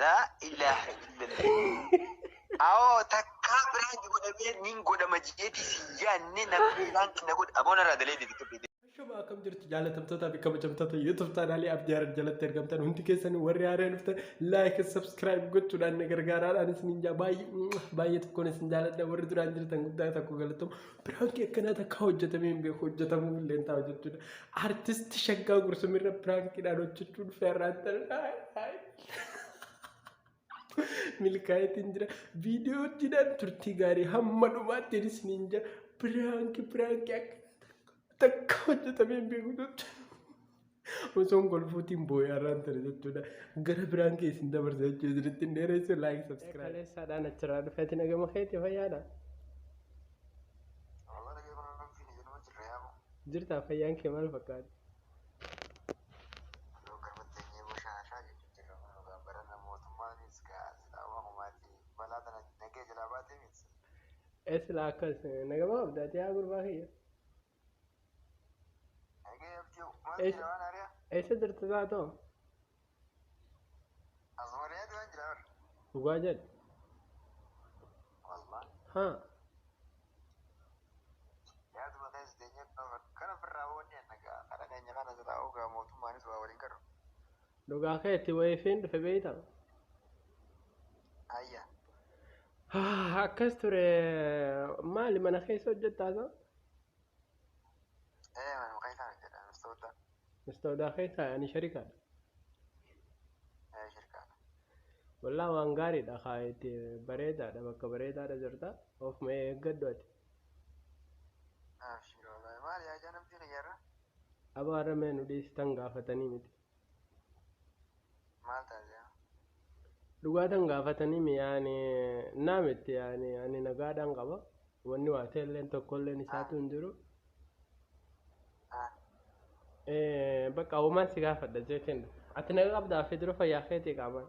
Laa ilaaha illallah. Awoo takkaa biraan ji godhamee nin godhama jeeti si yaanne namni biraan kina godha aboon irraa dalee deebitu beekte. Shuma akkam jirtu jaalatamtootaa fi kabajamtoota YouTube chaanaalii Abdii Harar jalatti argamtan hundi keessanii warri haaree dhuftan like subscribe gochuudhaan na gargaaraadhaan isiniin jaa baay'ee baay'ee tokkoon isin jaaladha warri duraan jirtan guddaa tokko galatooma Piraanki akkanaa takka hojjetamee hin beeku hojjetamuu illee ta'a jechuudha. Artisti shaggaa gursumirra piraankiidhaan hojjechuun feerraan ta'udha. Milkaa'eetiin jira. Viidiyoottiidhaan turtii gaarii hamma dhumaatti isiniin jira. Piraanki piraanki akkanaa takka hojjetamee hin beeku jechuudha. Osoon kolfuutiin boo'ee har'aan ture jechuudha. Gara biraan kee isin dabarsa jechuudha. Isinitti hin dheeressu laayik sabskiraayib. Kaleessaadhaan achirraa dhufeeti nagama keetti fayyaadha. Jirtaa fayyaan kee maal fakkaata? Eessilaa akkas nagama qabdaati yaa gurbaa kiyya. Eessa jirtu zaatoo? Dhugaa jedhu. Ha. Dhugaa keetti wayifiin dhufe beeyta. Akkas ture maali mana keessa hojjettaasa? Ee manu keessaa nu jedha mistooda. Mistoodaa keessaa ani sharikaadha. Ee shirkaadha. Wallaa waan gaariidha kaa itti bareedaadha bakka bareedaadha jirta of mee eeggadhu ati. Abshir wallahi maali yaa janabbii kiyyarra. Abaarra mee nu dhiistan gaafatanii miti. Maal taate yaa? Dhugaa tan gaafatanii mi yaani naa miti yaani ani nagaadhaan qaba wanni waa ta'elleen tokkolleen isaatu hin jiru Ah, Eh, bakka uumaan si gaafadha jeetiin ati naga qabdaa fi dura fayyaa keetii qaamaan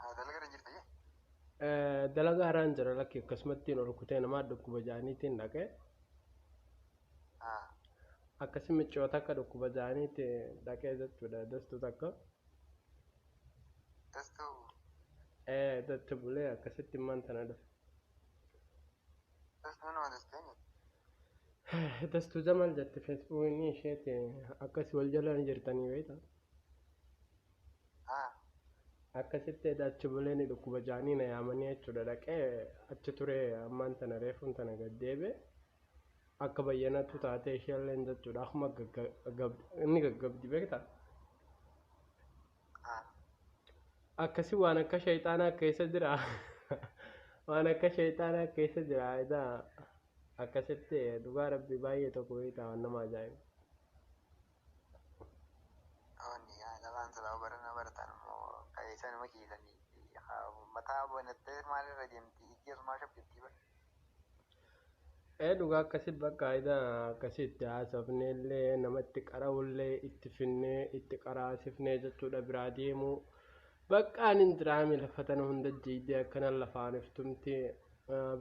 Haa dalagaa irra jirta jee. Dalagaa irraan jira lakki akkasumattiin ol kutee namaa dhukkuba ja'aniitiin dhaqe. Haa. Akkasi miccoo takka dhukkuba ja'aniitti dhaqee jechuudha dastuu takka. Dastuu. Ee datti bulee akkasitti immaan tana dhufe. Dastuu nama dasteeni. Dastuu Jamal jette feesbuukni isheeti akkasi wal jalaan jirtanii beektaa. Akkasitti eda achi bulee ni dhukkuba ja'anii na yaamanii jechuudha dhaqee achi turee ammaan tana reefuun tana gad deebi'e akka bayyanatu taatee isheelleen jechuudha akkuma inni gaggabdi beekta akkasi waan akka shayxaanaa keessa jira waan akka shayxaanaa keessa jira eda akkasitti dhugaa rabbi baay'ee tokko beekta waan nama ajaa'iba. Onni yaa dhabaan silaa barana baratan immoo qabeessan nama ciisanii mataa banattee maal irra deemti ijji asumaa shabbittii bar. Ee dhugaa akkasitti bakka ida akkasitti haasofnee illee nama itti qara'ullee itti finnee itti qaraasifnee jechuudha biraa deemu. Baqqaan hin jiraame lafa tana hunda jiidee akkana lafaan iftumti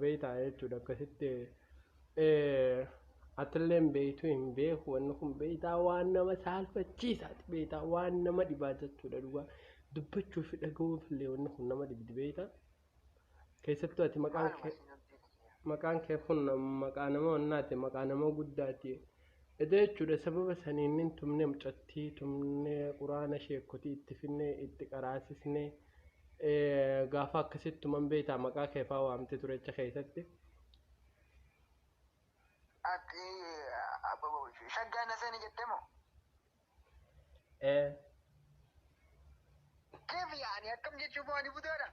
beeytaa jechuudha akkasitti atilleen beeytu hin beeku wanni kun beeytaa waan nama saalfachiisaati beeytaa waan nama dhibaa jechuudha dhugaa dubbachuu fi dhagahuuf illee wanni kun nama dhibdi beeytaa keessattuu ati maqaan kee maqaan kee kun maqaa nama wannaati maqaa nama guddaati eda jechuudha sababa saniin nin tumne mucattii tumne quraana sheekkotii itti finne itti qaraasisne gaafa akkasitti tuman beeytaa maqaa keefaa waamte turecha keessatti Ati abbo shaggaa na seeni jette moo? Ee. Keef yaani akkam jechuun moo ani budaadha?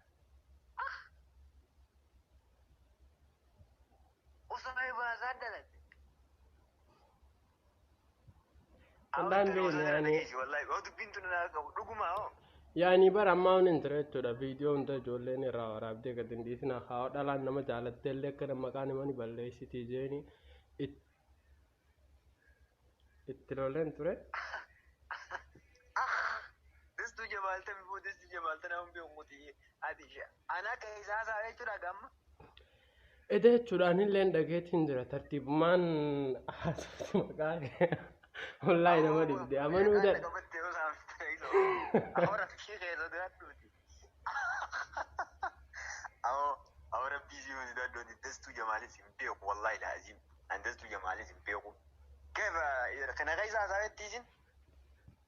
Osoo baasaa dalagde. Wallaahi hin beekne yaani. Yaani bara ammaa waan hin ture jechuudha. Viidiyoo hunda ijoolleen irraa waraabdee gad hin dhiisna. Haa dhalaan nama jaalattee illee akka nama maqaan himani balleessitii jeeni. It- Itti loleen ture. Distu jabaalte bifuu distu jabaalte nama beeku muti ati ishe. Ana akka isaa isaa jechuudha gamma. Eda jechuudha anilleen dhageetiin jira tartiibumaan haasofti maqaa kee. Wallaahi nama dhibde amanuu dha. Kaifa kana keessa haasawettii isin?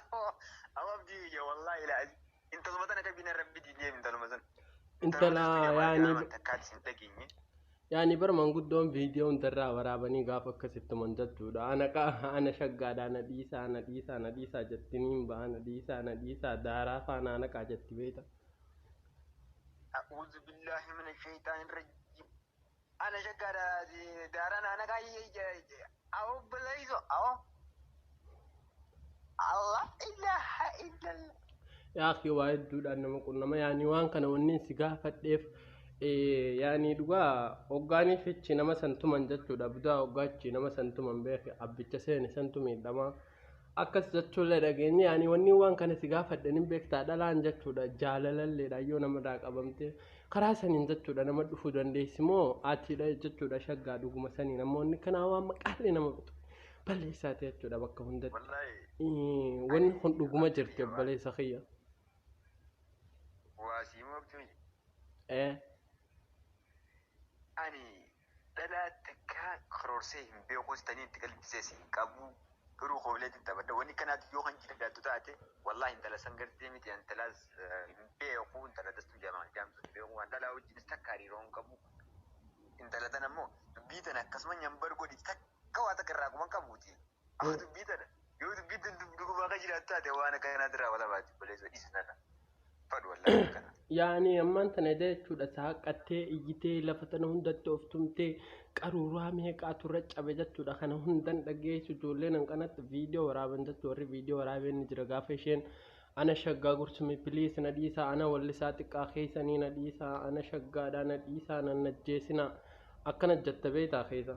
Amma abdii biyya wallaahi ilaa intaluma tana akka bina rabbi diinee intaluma sana. Intala yaani takkaatti sin dhageenye. yaani bar manguddoon viidiyoo hundarraa waraabanii gaafa akkasitti man jechuudha. Ana qa ana shaggaadha ana dhiisaa ana dhiisaa ana dhiisaa jetti niin ba'a ana dhiisaa ana dhiisaa daaraa faana ana qaa jetti beekta. A'uuzu billaahi mina shayxaani rajim. Ana shaggaa daaraa naana kaayyee awo bilayso awo Allah ilaha illallah. Yaa kee waa hedduudhaan nama qunnama yaani waan kana wanni si gaafadheef eh, yaani dhugaa hoggaanii fichi nama santuman jechuudha budaa hoggaachi nama santuman beeke abbicha seene santu miidhamaa. akkas jechuullee dhageenye ani wanni waan kana si gaafadhen hin beektaa dhalaan jechuudha jaalalalleedha yoo namarraa qabamte karaa saniin jechuudha nama dhufuu dandeessi moo atiidha jechuudha shaggaa dhuguma sanii namoonni kanaa waan maqaallee nama bitu balleessaati jechuudha bakka hundatti Wallaahi Ii, wanni kun dhuguma jirti obboleessa kiyya waa sii moogtu miti. ee Ani Dhalaa takkaa karoorsee hin beekuus taniin itti galchisees hin qabu garuu kooleetiin taphadha wanni kanaati yoo kan jiraattu taate wallaahi intala san gartee miti intalaas hin beeku intala dastuu jedhaman jaamtu hin beeku kan dhalaa wajjinis takka hariiroo hin qabu intala tan ammoo dubbii tana akkasuma nyambar godhiti takka waa takka irraa quban qabuuti Amma dubbii tana yoo dubbii tun dub- dhugumaa kan jiraatu taate waan akkanaatti raawwata baati obboleessa dhiisi tana. Fadhu wallaahi akkana. yaani ammaan tana edaa jechuudha saaqqattee iyyitee lafa tana hundatti of tumtee qaruuraa meeqaatu irra cabe jechuudha kana hundan dhageessu ijoolleen hanqanatti viidiyoo waraaban jechuudha warri viidiyoo waraabeen ni jira gaafa isheen ana shaggaa gursumii piliis na dhiisaa ana wallisaa xiqqaa keessanii na dhiisaa ana shaggaadhaa na dhiisaa nan ajjeesinaa akkana jetta beektaa keessa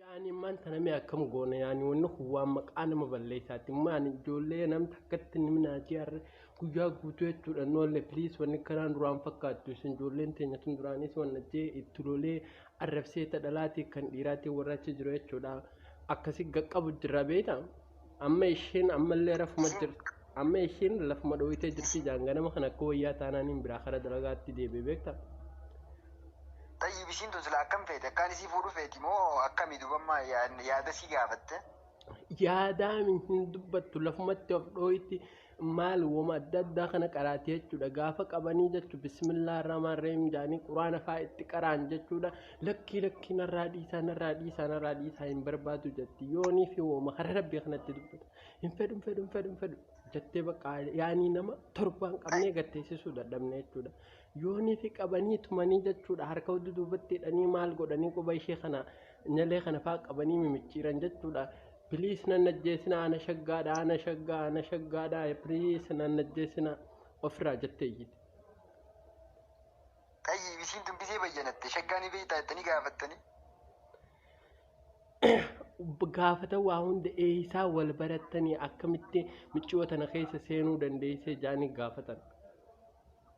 Yaani maan tana mee akkam goona yaani wanni kun waan maqaa nama balleessaati maan ijoollee nam takkatti ni minaatee harre guyyaa guutuu jechuudha noolle piliis wanni kanaan duraan fakkaattu isin ijoolleen teenya tun duraanis wanna jee itti lolee arrabsee ta dhalaatii kan dhiiraatii warra achi jiru jechuudha akkasi gaqqabu jirra beektaa. Amma isheen ammallee rafuma jirti. Amma isheen lafuma dhooyitee jirti jaan ganama kana akka wayyaa taanaan hin biraa kara dalagaatti deebi'e beekta. Tayyib ishiin tun silaa akkam feete akkaan isii fuudhu feeti moo akkami dubamma yaada sii gaafatte. Yaadaami hin dubbattu lafumatti of dhooyitti. maal woma adda addaa kana qaraati jechuudha gaafa qabanii jechu bismillaa irraamaan reem jaanii quraana faa itti qaraan jechuudha lakkii lakkii narraa dhiisaa narraa dhiisaa narraa dhiisaa hin barbaadu jetti yoonii fi woma hara rabbii kanatti dubbata hin fedhu hin fedhu hin fedhu hin fedhu jettee bakka yaanii nama torbaan qabnee gatteessisuu dadhabne jechuudha yoonii fi qabanii tumanii jechuudha harka hudduu duubatti hidhanii maal godhanii quba ishee kana nyalee kana faa qabanii mimicciiran jechuudha Please nan ajjeesina ana shaggaadha ana shaggaa ana shaggaadha please nan ajjeesina ofirraa jettee iyyite. Xayyi isiin tun gisee bayyanatte shaggaanii beektaa jettanii gaafattanii. gaafata waa hunda eeysaa wal barattanii akkamitti miccoo tana keessa seenuu dandeessee jaanii gaafatan.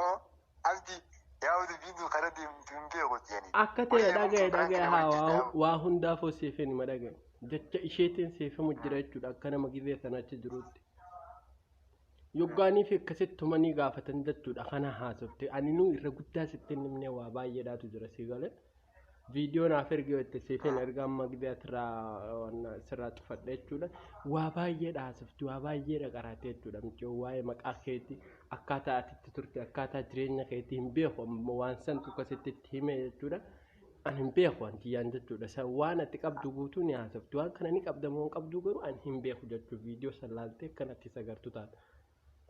Oo, abdi yaa udu biidu kana deemtu hin beeku jeeni. Akka ta'e Wayya dhagaye bultuu dhagaye kana haa wajjin waa, ta'amu. waa hundaafuu siif hin hima dhagaye. Jecha isheetiin siif himu jira jechuudha akka nama gizee sana achi jirutti. Yoggaanii fi akkasitti tumanii gaafatan jechuudha kana haasofte. Aninuu irra guddaa sitti hin himne waa baay'eedhaatu jira si galee. viidiyoo naaf ergi yoo itti siifin erga amma gibee asirraa wanna sirraa cufadhe jechuudha. Waa baay'ee dhaasifti, waa baay'ee dhaqaraate jechuudha. Michoo waa'ee maqaa keeti akkaataa ati itti turte akkaataa jireenya keeti hin beeku amma waan santu akkasitti itti hime jechuudha. Ani hin beeku waan kiyyaan jechuudha. San waan ati qabdu guutuu ni haasofti. Waan kana ni qabda moo hin qabdu garuu ani hin beeku jechuudha. Viidiyoo san laaltee kan ati isa gartu taata.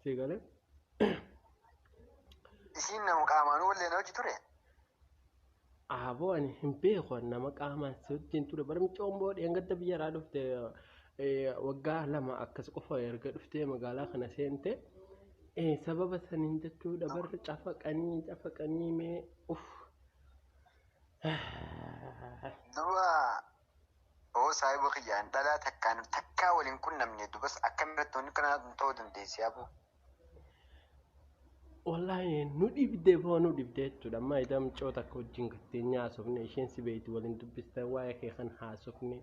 Sii galee. Isiin nama qaamaan wallee na hojii ture. Aaboo ani hin beeku ani nama qaamaan si wajjin ture bara micoon boo dheengadda biyyarraa dhufte eh, waggaa lama akkas qofa erga dhuftee magaalaa kana seente eh, sababa saniin jechuudha barri cafaqanii cafaqanii mee uff Duba Oo saahiba kiyya an dhalaa takkaan takkaa wal hin qunnamne dubas akkamitti wanni kanaa tun ta'uu dandeessi aboo. Wallaahi nu dhibdee boo nu dhibdee jechuudha. Amma idaa mucoo takka wajjin gatteenyaa haasofne isheen si beektu waliin dubbiste waa'ee kee kan haasofne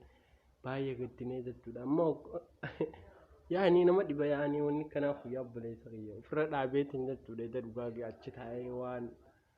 baay'ee gaddinee jechuudha. Amma yaa'anii nama dhiba yaa'anii wanni kanaaf guyyaa obboleessa kiyya ofirra dhaabeetiin jechuudha. Ida dhugaa achi taa'ee waan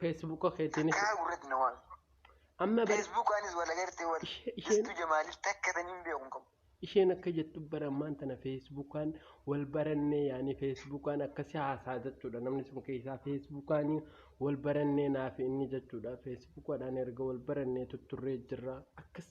Feesbuuka keetiinis Kaa gurratti na waan. amma bar Facebook anis wal agartee wal. Ishee- isheen- Istu jamaaliif takka tan hin beeku hin qabu. isheen akka jettu bara ammaan tana feesbuukaan wal barannee yaani feesbuukaan akkasi haasaa jechuudha namni sun keessaa feesbuukaan wal barannee naaf inni jechuudha feesbuukaadhaan erga wal barannee tutturree jirra akkas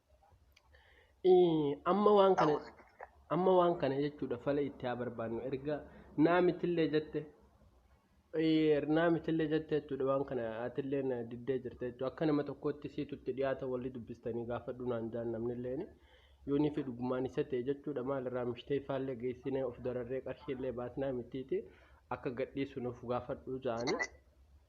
Ee, amma waan kana A'uuzu billah. amma waan kana jechuudha fala itti haa barbaannu erga naamitillee jette ee, naamitillee jette jechuudha waan kana atillee na diddee jirte jechuudha akka nama tokkootti siitu itti dhiyaata walli dubbistanii gaafadhu naan jaan namnilleen yoonii fi dhugumaan isa ta'e jechuudha maalirraa mishtee faallee geessinee of dararree qarshiillee baasnaa mitiiti akka gadhiisu nuuf gaafadhu ja'anii. Inni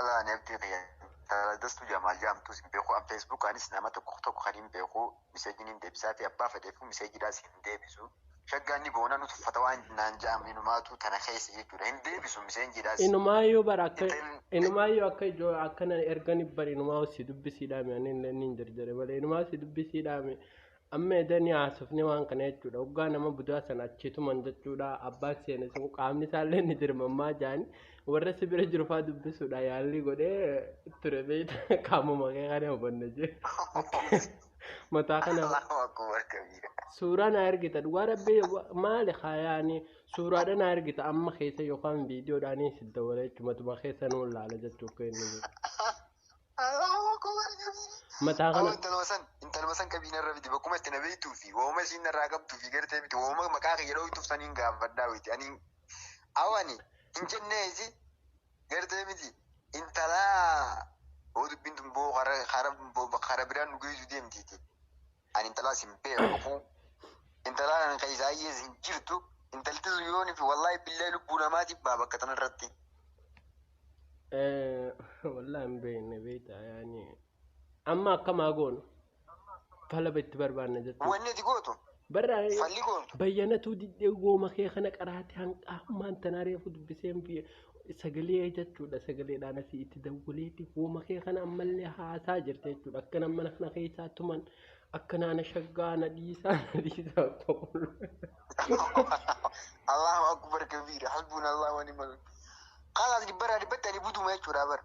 Ala ani abdii kiyya intala dastu jamaal jaamtu sin beeku an facebook anis nama tokko tokko kan hin beeku miseeji nin deebisaa fi abbaa fedheefu miseeji dhaas hin deebisu shaggaa ni boona nu tuffata waan naan ja'am inumaatu tana keessa jechuudha hin deebisu miseenji dhaas Inumaayyuu bara akka Intalli- inumaayyuu akka ijoo akkana ergani bara inumaa si dubbisiidhaame ani illee niin jarjare malee inumaa si dubbisiidhaame Amma edanii haasofne waan kana jechuudha. Hoggaa nama budaa sana achii tuman jechuudha. Abbaan seene sun qaamni isaallee ni dirmammaa jaani. Warra si bira jiru fa'aa dubbisuudha yaallii godhee ture beekta. Qaamuma kee kana hubanne jee. Mataa kana Allahu akbar kabiira. suuraa na ergita dhugaa rabbi wa- maali kaayaani suuraadha na ergita amma keessa yookaan viidiyoodhaanii si dawwala jechumatuma keessa nuun laala jechuuf kennu. Mataa kana. Intaluma san intaluma san qabii narra fidi bakkuma itti na beektuu fi wauma isiin narraa qabduu fi gartee miti wauma maqaa kiyya dhooytuuf saniin gaafadhaa witi ani awani hin jennee isi gartee miti intalaa hoo dubbiin tun boo kara kara bira nu geessu deemtiiti. Ani intalaas hin beeku. Intalaan ani kan isaa hiyyees hin jirtu. Intalti sun yoonii fi wallaahi billahi lubbuu namaa jibbaa bakka tana irratti. Wallaan hin beekne beektaa yaani. Amma akkamaa goonu. Talaba itti barbaanna jechuudha. Wanni ati gootu Barraa falli goontu. bayyanatuu diddee gooma kee kana qaraate hanqaa ammaan tanaa reefu dubbiseen fi sagalee jechuudha sagaleedhaan asii itti dawwaleeti hooma kee kana ammallee haasaa jirta jechuudha akka nama mana kana keessaa tuman akka naana shaggaa na dhiisaa na dhiisaa qofaadha. Allahu akbar kabiira hasbuun Allahu wa ni'mal wakiil. Kaalaas dhibbarraa dhibbatti ani buduma jechuudha bara.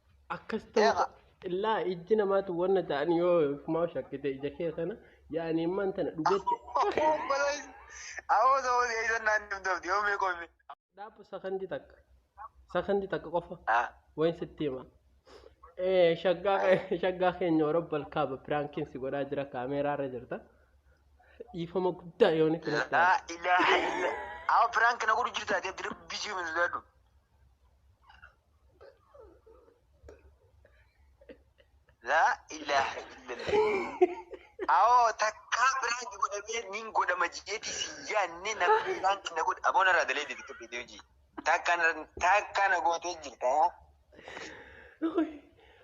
akkas ta'uu Eeqa. illaa ijji namaatu wanna ta'an yoo kumaa shakkite ija kee kana yaani imman tana dhugetti Awoo ta'uu eeysan naan dhabdabdi yoo mee qomi. dhaabu sakandi takka sakandi takka qofa wayin sitti hima Eh, shaggaa kee- shaggaa keenya orobbal kaaba piraankiin si godhaa jira kaameeraa irra jirta dhiifama guddaa yooni filatti Laa ilaaha illa. Awoo piraank na godhu jirta ati abdi rabbi jiru hin sodaadhu. Laa ilaaha illallah. Awoo takkaa biraan ji godhamee nin godhama jeeti si yaanne na biraan na godha. Aboo narraa dalee deebitu beekee hojii. Takka na- takka na gootee jirta.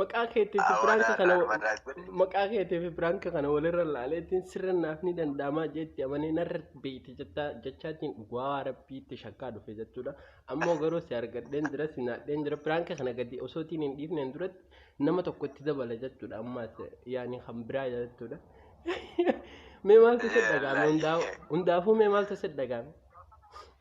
maqaa keetiif Ah, biraanka walaal, kana walaal jedhe. maqaa keetiif biraanka kana walirra laaleetiin sirra naaf ni danda'amaa jeetti amanee narra beekti jettaa jechaatiin dhugaa rabbiitti shakkaa dhufe jechuudha ammoo garuu si argadheen jira si naadheen jira biraanka kana gadi osootiin hin dhiifneen duratti nama tokkotti dabala jechuudha ammaas yaani kan biraa jechuudha mee maaltu si dhagaame hundaafuu mee maaltu si dhagaame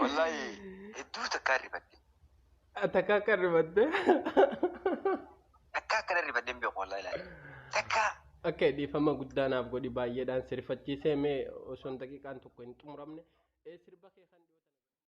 Wallaahi hedduu takkaa rifadhe. Takka akka ribatte. Takkaa akkana rifadheen beeku wallaahi laale. Takkaa. Akka dhiifama guddaa naaf godhi baay'eedhaan sirfachiisee mee osoo daqiiqaan tokko hin xumuramne. Sirba kee kan